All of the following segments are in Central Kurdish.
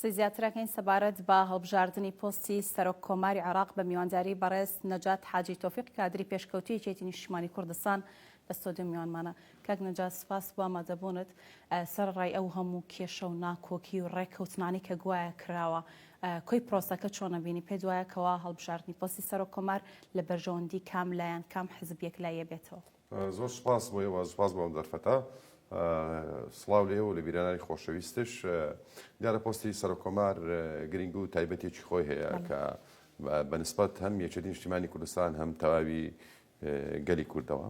قسەی زیاترەکەین سەبارەت بە هەڵبژاردنی پۆستی سەرۆک کۆماری عێراق بە میوانداری بەڕێز نەجات حاجی تۆفیق کادری پێشکەوتوی یەکێتی نیشتیمانی کوردستان لە ستۆدیۆ میوانمانە. کاک نەجات سوپاس بۆ ئامادەبونت. سەرەڕای ئەو هەموو کێشە و ناکۆکی و ڕێککەوتنانەی کە گوایە کراوە کۆی پرۆسەکە چۆن ئەبینی؟ پێت وایە کەوا هەڵبژاردنی پۆستی سەرۆک کۆمار لە بەرژەوەندی کام لایەن، کام حزب یەکلاییە بێتەوە؟ زۆر سوپاس بۆ ئێوە سوپاس بۆ ئەم دەرفەتە سڵاو لێ و لە بیرانانی خۆشەویستش دیارە پۆستی سەرکۆمار گرنگ و تایبەتێکی خۆی هەیە کە بەنسبەت هەم یەکێتی نیشتیمانی کوردستان هەم تەواوی گەلی کوردەوە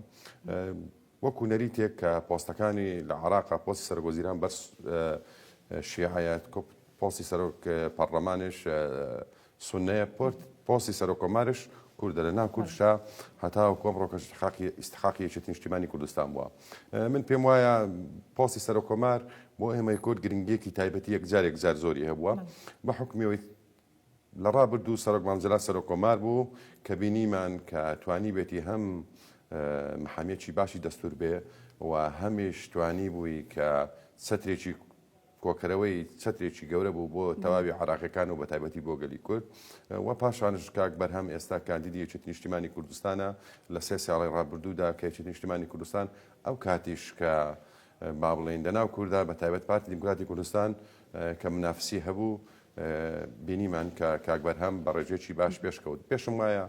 وەکو نەری تێک کە پۆستەکانی لە عراقا پۆستی سەرگۆزیران بەس شیعایەت پۆستی سەرۆک پەرلەمانش سنەیە پۆرت پۆستی سەرۆک کۆمارش کوردە لە ناو کوردشا هەتاوەکو ئەمڕۆ کە استحقاقی استحقاقی یەکێتی نیشتیمانی کوردستان بووە اه، من پێم وایە پۆستی سەرۆک کۆمار بۆ ئێمەی کورد گرنگیەکی تایبەتی یەک جارێک جار زۆری هەبووە بە حکمیەوەی لە ڕابردوو سەرۆک مام جەلال سەرۆک کۆمار بوو کە بینیمان کە توانی بێتی هەم اه، محامیەکی باشی دەستور بێ و هەمیش توانی بووی کە چەترێکی کۆکەرەوەی چەترێکی گەورە بوو بۆ تەواوی عێراقیەکان و بەتایبەتی بۆ گەلی کورد و پاشانش کاک بەرهەم ئێستا کاندیدی یەکێتی نیشتیمانی کوردستانە لە سێ ساڵی ڕابردوودا کە یەکێتی نیشتیمانی کوردستان ئەو کاتیش کە با بڵێین لەناو کووردا بە تایبەت پارتی دیموکراتی کوردستان کە منافسی هەبوو بینیمان کە کاک بەرهەم بە ڕێژێکی باش پێشکەوت پێشم وایە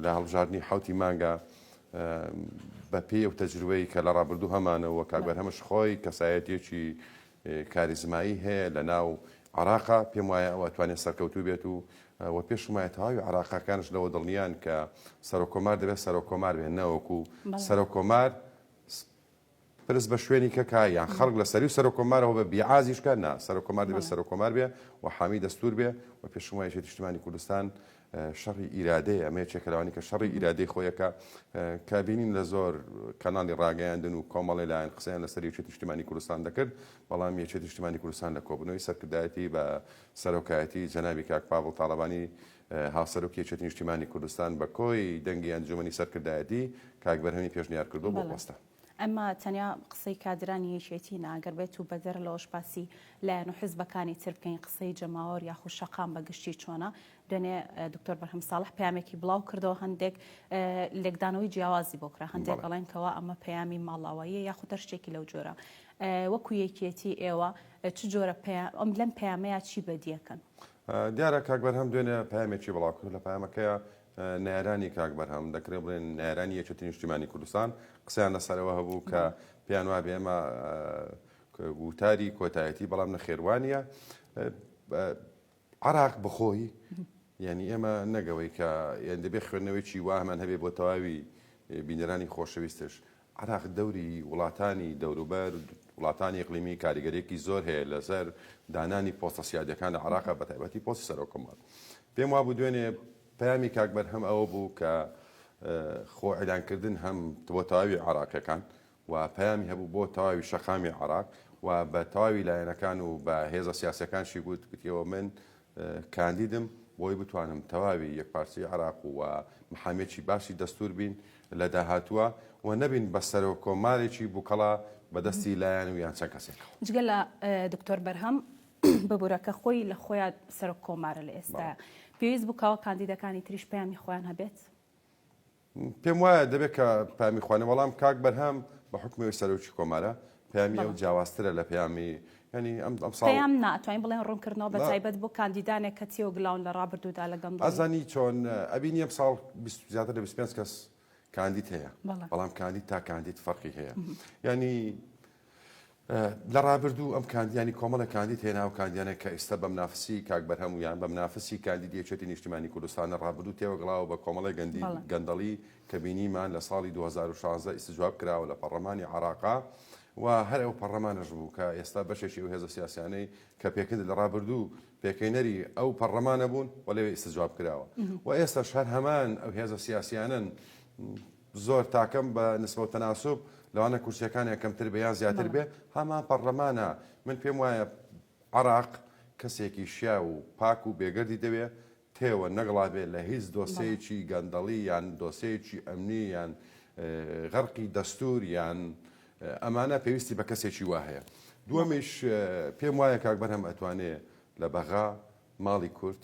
لە هەڵبژاردنی حوتی مانگە بە پێی ئەو تەجروبەی کە لە ڕابردوو هەمانەوە کاک بەرهەمش خۆی کەسایەتیەکی کاریزمایی هەیە لە ناو عراقا پێم وایە ئەو ئەتوانێت سەرکەوتوو بێت و و پێشم وایە تەواوی عراقەکانش لەوە دڵنیان کە سەرۆکۆمار دەبێت سەرۆکۆمار بێن نەوەکو سەرۆکۆمار پرس بە شوێنی کەکە یان خەڵک لە سەری و سەرۆک کۆمارەوە بە بیعازیش کە نا سەرۆک کۆمار دەبێت بەڵێ. سەرۆک کۆمار بێ و حامی دەستوور بێ و پێشم وایە یەکێتی نیشتمانی کوردستان شەڕی ئیرادەیە ئەمە یەکێکە لەوانەی کە شەڕی ئیرادەی خۆی ئەکا کە بینین لە زۆر کەناڵی ڕاگەیاندن و کۆمەڵێ لایەن قسەیان لەسەر یەکێتی نیشتمانی کوردستان دەکرد بەڵام یەکێتی نیشتمانی کوردستان لە کۆبوونەوەی سەرکردایەتی بە سەرۆکایەتی جەنابی کاک پاڤڵ تاڵەبانی هاوسەرۆکی یەکێتی نیشتیمانی کوردستان بە کۆی دەنگی ئەنجوومەنی سەرکردایەتی کاک بەرهەمی پێشنیار کردووە بۆ پۆستە. ئەمە تەنیا قسەی کادرانی یەکێتی نا، گەر بێتوو بەدەر لەوەش باسی لایەن و حزبەکانی تر بکەین قسەی جەماوەر یاخود شەقام بە گشتی چۆنە؟ دوێنێ دکتۆر بەرهەم ساڵح پەیامێکی بڵاو کردەوە هەندێک لێکدانەوەی جیاوازی بۆ کرا، هەندێک ئەڵێن کەوا ئەمە پەیامی ماڵاواییە یاخود هەر شتێکی لەو جۆرە. وەکو یەکێتی ئێوە چ جۆرە ئەم لەم پەیامەیا چی بەدیەکەن؟ دیارە کاک بەرهەم دوێنێ پەیامێکی بڵاو کرد لە پەیامەکەیە نارانی کاک بەرهەم دەکرێت بڵێن نارانی یەکێتی نیشتیمانی کوردستان قسەیان لەسەرەوە هەبوو کە پێیان وا بێمە وتاری کۆتایەتی بەڵام نەخێوانە عراق بخۆی یعنی ئێمە نەگەوەی کە یان دەبێ خوێندنەوەیکی واهمان هەبێ بۆ تەواوی بینەرانی خۆشەویستش عێراق دەوری وڵاتانی دەوروبەر، وڵاتانی ئیقلیمی کاریگەرییەکی زۆر هەیە لەسەر دانانی پۆستە سیادییەکان لە عێراق، بەتایبەتی پۆستی سەرۆک کۆمار. پێم وابوو دوێنێ پەیامی کاک بەرهەم ئەوە بوو کە خۆ ئیلان کردن هەم بۆ تەواوی عێراقییەکان و پەیامی هەبوو بۆ تەواوی شەقامی عێراق و بە تەواوی لایەنەکان و بە هێزە سیاسییەکانشی گوت، گوتیەوە من کاندیدم بۆی بتوانم تەواوی یەکپارچەی عێراق و و محامێکی باشی دەستور بین لە داهاتووە و نەبین بە سەرۆک کۆمارێکی بوکەڵە بە دەستی لایەن و یان چەند کەسێکەوە. جگە لە دکتۆر بەرهەم ببورە کە خۆی لە خۆیا سەرۆک کۆمارە لە ئێستایا، پێویست بوو کاوە کاندیدەکانی تریش پەیامی خۆیان هەبێت؟ پێم وایە دەبێت کە پامی خوانە بەڵام کاک بەرهەم بە حکمەوەی سەرۆکی کۆمارە پامی ئەو جیاوازترە لە پامی ینی ئەم ئەم ساڵیان ناتوانین بڵێن ڕوونکردنەوە بە تایبەت بۆ کاندیدانێک کە تیۆ گلاون لە ڕابردوودا لە گەم ئازانی چۆن ئەبینی ئەم ساڵ زیاتر لە 25 کەس کاندید هەیە بەڵام کاندید تا کاندید فەرقی هەیە ینی لە ڕابردوو ئەم کاندیانی کۆمەڵێک کاندید هەیە ناو کاندیانە کە ئیستا بە منافسی کاک بەرهەم و یان بە منافسی کاندیدی یەکێتی نیشتیمانی کوردستانە ڕابردوو تێوەگلاوە بە کۆمەڵی گەندی بەڵێ گەندەڵی کە بینیمان لە ساڵی دوو هەزار و شازدە ئیستجواب کراوە لە پەڕڵەمانی عەڕاقا و هەر ئەو پەڕڵەمانەش بوو کە ئێستا بەشێکی ئەو هێزە سیاسیانەی کە پێکن لە ڕابردوو پێکهێنەری ئەو پەڕڵەمانە بوون و لەوێ ئیستجواب کراوە و ئێستاش هەر هەمان ئەو هێزە سیاسیانەن زۆر تاکەم بە نسبەو تەناسوب لەوانە کورسیەکانیان کەمتر بێ یان زیاتر بێ هەمان پەڕلەمانە من پێم وایە عراق کەسێکی شیاو و پاک و بێگەردی دەوێ تێوە نەگڵابێ لە هیچ دۆسێیەکی گەندەڵی یان دۆسێیەکی ئەمنی یان غەرقی دەستور یان ئەمانە پێویستی بە کەسێکی وا هەیە دووەمیش پێم وایە کاک بەرهەم ئەتوانێ لە بەغا ماڵی کورد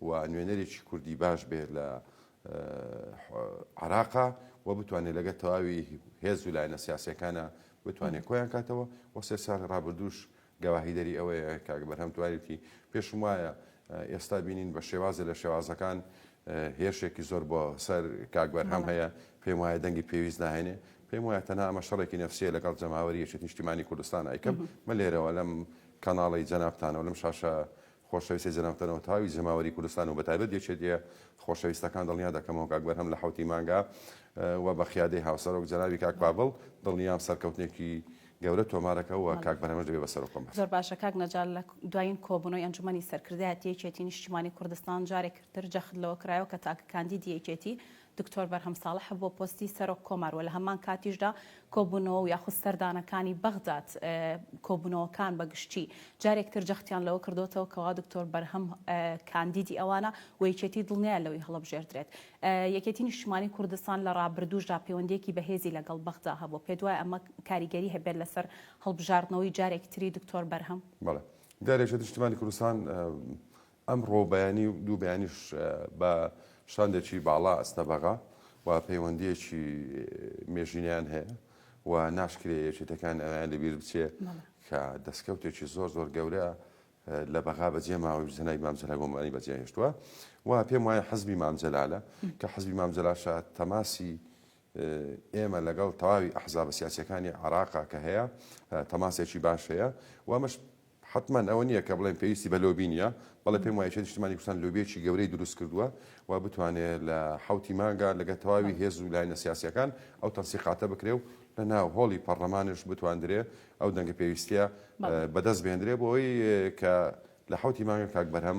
و نوێنەرێکی کوردی باش بێت لە عراقا و بتوانێت لەگە تەواوی هێز و لایەنە سیاسەکانە بتوانێت کۆیان کاتەوە و سێ ساڵی ڕابردوش گەواهی دەری ئەوەیە کاک بەرهەم توانێتی پێشم وایە ئێستا بینین بە شێوازە لە شێوازەکان هێرشێکی زۆر بۆ سەر کاک بەرهەم هەیە پێم وایە دەنگی پێویست ناهێنێ پێم وایە تەنها ئەمە شەڕێکی نفسیە لەگەڵ جەماوەری یەکێتی نیشتیمانی کوردستان ئەیکەم مە لێرەوە لەم کەناڵی جەنابتانەوە لەم شاشە خۆشەویستی جەناب تەنۆ تاوی جەماوەری کوردستان و بە تایبەت یەکێتیە خۆشەویستەکان دڵنیا دەکەمەوە کاک بەرهەم لە حەوتی مانگا وە بە قیادەی هاوسەرۆک جەنابی کاک پاڤڵ دڵنیام سەرکەوتنێکی گەورە تۆمارەکە وە کاک بەرهەمش دەبێ بە سەرۆک کۆمار. زۆر باشە کاک نەجار لە دوایین کۆبونەوەی ئەنجومەنی سەرکردایەتی یەکێتی نیشتیمانی کوردستان جارێکتر جەخت لەوە کرایەوە کە تاکە کاندیدی یەکێتی دکتۆر بەرهەم ساڵح بۆ پۆستی سەرۆک کۆمار و لە هەمان کاتیشدا کۆبوونەوە و یاخود سەردانەکانی بەغداد کۆبوونەوەکان بە گشتی جارێکتر جەختیان لەوە کردۆتەوە کەوا دکتۆر بەرهەم کاندیدی ئەوانە و یەکێتی دڵنیایە لەوەی هەڵەبژێردرێت یەکێتی نیشتیمانی کوردستان لە ڕابردووشدا پەیوەندیەکی بەهێزی لەگەڵ بەغدا هەبووە پێتوایە ئەمە کاریگەری هەبێت لەسەر هەڵبژاردنەوەی جارێکتری دکتۆر بەرهەم؟ بەڵێ جارێکتر نیشتیمانی کوردستان ئەمڕۆ بەیانی و دوو بەیانیش بە شاندێکی باڵا ئەچنە بەغا و پەیوەندییەکی مێژینەیان هەیە و ناشکرێ یەکێتەکان ئەویان لەبیر بچێ کە دەستکەوتێکی زۆر زۆر گەورە لە بەغا بەجێ ماوەی بزنای مامجلال بۆمانی بەجێهێشتووە و پێم وایە حزبی مامجلالە کە حزبی مامجلاشە تەماسی ئێمە لەگەڵ تەواوی ئەحزابە سیاسەکانی عراقا کە هەیە تەماسێکی باش هەیە و ئەمەش حەتمەن ئەوە نییە کە بڵێین پێویستی بە لۆبی نییە، بەڵێ پێم وایە نیشتمانی کوردستان لۆبییەکی گەورەی دروست کردووە و بتوانێ لە حەوتی مانگا لەگەڵ تەواوی هێز و لایەنە سیاسییەکان ئەو تەنسیقاتە بکرێ و لە ناو هۆڵی پەڕلەمانیش بتواندرێ ئەو دەنگە پێویستییە بەدەست بهێندرێ بۆ ئەوەی کە لە حەوتی مانگا کاک بەرهەم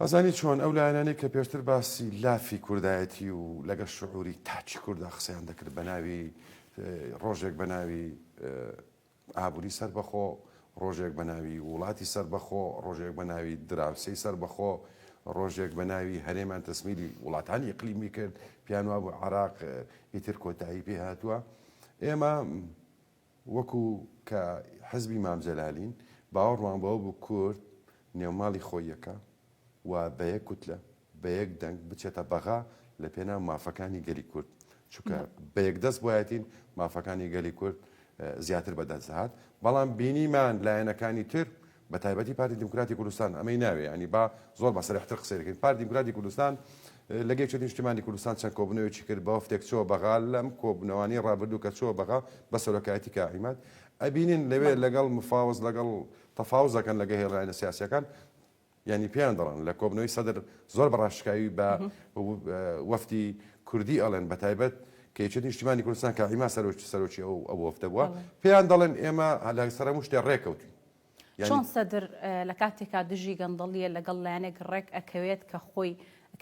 ئەزانی چۆن؟ ئەو لایەنانەی کە پێشتر باسی لافی کوردایەتی و لەگەڵ شعوری تاکی کوردا قسەیان دەکرد بە ناوی ڕۆژێک بە ناوی ئابووری سەربەخۆ ڕۆژێک بە ناوی وڵاتی سەربەخۆ ڕۆژێک بە ناوی دراوسەی سەربەخۆ ڕۆژێک بە ناوی هەرێمان تەسمیلی وڵاتانی ئەقلیمی کرد پیانوا بۆ عراق ئیتر کۆتایی پێ هاتووە ئێمە وەکو کە حزبی مام جەلالین باوەڕمان بەوە بوو کورد نێوماڵی خۆیەکە و بە یەک کوتلە، بە یەک دەنگ بچێتە بەغا لە پێناو مافەکانی گەلی کورد، چونکە بە یەک دەست بوایەتین مافەکانی گەلی کورد زیاتر بە دەست دەهات، بەڵام بینیمان لایەنەکانی تر بە تایبەتی پارتی دیموکراتی کوردستان ئەمەی ناوێ یانی با زۆر بە سەرحتر قسەی دەکەین پارتی دیموکراتی کوردستان لە گەیشتە نیشتیمانی کوردستان چەند کۆبنەوەیەکی کرد بە وەفتێک چۆ بەغا لەم کۆبنەوانی ڕابردوو کە چۆ بەغا بە سەرۆکایەتی کا عیماد ئەبینین لەوێ لەگەڵ مفاوز لەگەڵ تەفاوز دەکەن لەگە هێڵلاینە سیاسەکان ینی پێیان دەڵن لە کۆبنەوەی سەدر زۆر بەڕاشکاوی بە وەفتی کوردی ئەڵێن بە تایبەت کەچێت نیشتیمانی کوردستان کە عیما سەرۆکی سەرۆکی ئەو ئەو وەفتە بووە پێیان دەڵێن ئێمە هەلاک سەرە مشتێ ڕێکەوتین چۆن سەدر لە کاتێکا دژی گەندەڵیە لەگەڵ لایەنێک ڕێک ئەکەوێت کە خۆی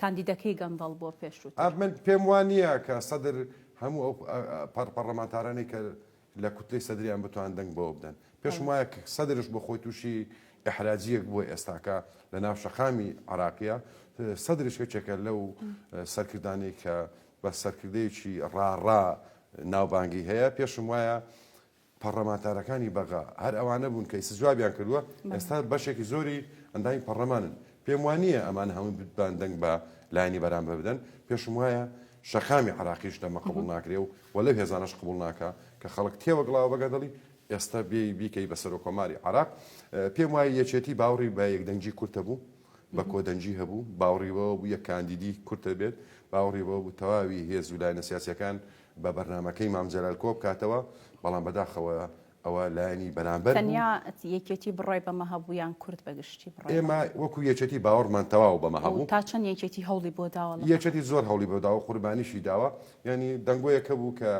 کاندیدەکەی گەندەڵ بووە پێشووتر؟ من پێم وا نییە کە سەدر هەموو ئەو پەڕپەڕلەمانتارانەی کە لە کوتلەی سەدریان بتوان دەنگ بەوە بدەن. پێشم وایە کە سەدرش بۆ خۆی تووشی ئیحراجییەک بووە ئێستاکە لە ناو شەقامی عێراقییە. سەدرش یەکێکە لەو سەرکردانەی کە بە سەرکردەیەکی ڕاڕا ناوبانگی هەیە. پێشم وایە. پەڕلەمانتارەکانی بەغا هەر ئەوانە بوون کە ئیستا جوابیان کردووە، ئێستا بەشێکی زۆری ئەندامی پەڕلەمانن، پێم وا نییە ئەمانە هەمووی بتوان دەنگ بە لایەنی بەرامبەر بدەن، پێشم وایە شەقامی عێراقیش لەمە قبوڵ ناکرێ و و لەو هێزانەش قبوڵ ناکا کە خەڵک تێوەگلاوە بە گەدەڵی، ئێستا بێی بیکەی بە سەرۆککۆماری عێراق، پێم وایە یەکێتی باوڕی بە یەکدەنگی کورد هەبوو، بە کۆدەنگی هەبوو، باوڕی بەوە بوو یەک کاندیدی کورد هەبێت، باوڕی بەوە بوو تەواوی هێز و لایەنە سیاسییەکان بە بەرنامەکەی مام جەلال کۆبکاتەوە، بەڵام بەداخەوە ئەوە لایەنی بەرامبەر بوو. تەنیا یەکێتی بڕای بەمە هەبوو یان کورد بە گشتی بڕای بەمە ئێمە هەبوو؟ وەکو یەکێتی باوەڕمان تەواو بەمە و هەبوو. تا چەند یەکێتی هەوڵی بۆ داوە لە مەڕ یەکێتی زۆر هەوڵی بۆ داوە، قوربانیشی داوە. یانی دەنگۆیەک هەبوو کە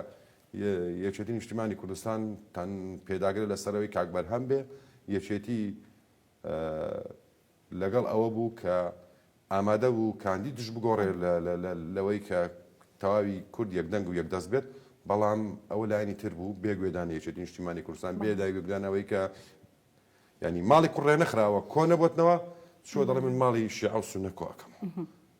یەکێتی نیشتیمانی کوردستان تەن پێداگرە لە سەرەوەی کاک بەرهەم بێ، یەکێتی لەگەڵ ئەوە بوو کە ئامادە بوو کاندیدش بگۆڕێ لەوەی کە تەواوی کورد یەک دەنگ و یەک دەست بێت، بەڵام ئەوە لایەنی تر بوو بێ گوێدانی یەکێتی نیشتیمانی کوردستان، بێ داگوێگدان ئەوەی کە یانی ماڵی کوڕ ڕێنەخراوە کۆ نەبۆتنەوە، چووە دەڵێ من ماڵی شێعە و سوننە کۆ ئەکەمەوە.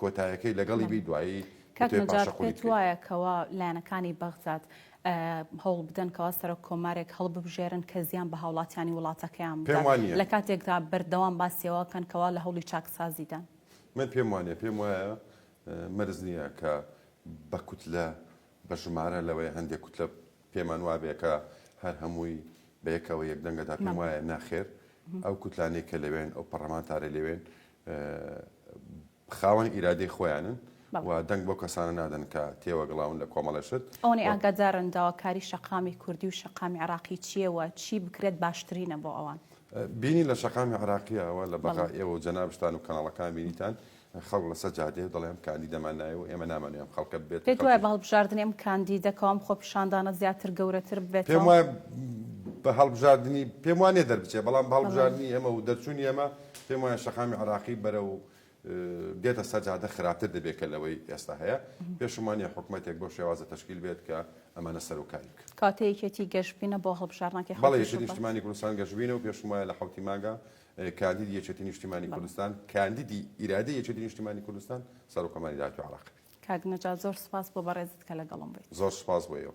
کۆتایەکەی لەگەڵی بی دوایی کاک وتەی نەجات پاشەقولی پێت بکەی. وایە کەوا لایەنەکانی بەغداد هەوڵ بدەن کەوا سەرۆک کۆمارێک هەڵببژێرن کە زیان بە هاوڵاتیانی وڵاتەکەیان پێم بدات وانیە. لە کاتێکدا بەردەوام باسی ئەوە ئەکەن کەوا لە هەوڵی چاکسازیدان. من پێم وانیە پێم وایە مەرج نیە کە بە کوتلە بە ژمارە لەوەیە هەندێک کوتلە پێمان وابێ کە هەر هەمووی بە یەکەوە یەک دەنگە دا پێم مەم. وایە ناخێر ئەو کوتلانەی کە لەوێن ئەو پەڕەمانتارەی لەوێن خاوەن ئیرادەی خۆیانن و دەنگ بەو کەسانە نادەن کە تێوەگلاون لە کۆمەڵە شت. ئەوەنەی ئاگادارن داواکاری شەقامی کوردی و شەقامی عێراقی چییە و چی بکرێت باشترینە بۆ ئەوان؟ بینی لە شەقامی عێراقییە ئەوە لە بەغا ئێوە و جەنابشتان و کەناڵەکان بینیتان خەڵک لەسەر جادەیە دەڵێ ئەم کاندیدەمان نایە و ئێمە نامانەوێ ئەم خەڵکە ببێت. پێت وایە بە هەڵبژاردنی ئەم کاندیدە کەوام خۆپیشاندانە زیاتر گەورەتر ببێتەوە؟ پێم وایە بە هەڵبژاردنی پێم وانیە دەربچێت بەڵام بە هەڵبژاردنی ئێمە و دەرچوونی ئێمە پێم وایە شەقامی عێراقی بەرەو دێتە سەر جادە خراپتر دەبێت کە لەوەی ئێستا هەیە، پێشمانە حکومەتێک بەو شێوازە تەشکیل بێت کە ئەمانە سەرۆکاری بکەن. کاتێ یەکێتی گەشبینە بۆ هەڵبژاردنەکەی حەوتی شوبات؟ بەڵێ یەکێتی نیشتیمانی کوردستان گەشبینە و پێشم وایە لە حەوتی مانگا کاندیدی یەکێتی نیشتیمانی کوردستان، کاندیدی ئیرادەی یەکێتی نیشتیمانی کوردستان سەرۆککۆماری داهاتووی عێراق بێت. کاک نەجات زۆر سوپاس بۆ بەڕێزت کە لەگەڵم بوویت. زۆر سوپاس بۆ ئێوە.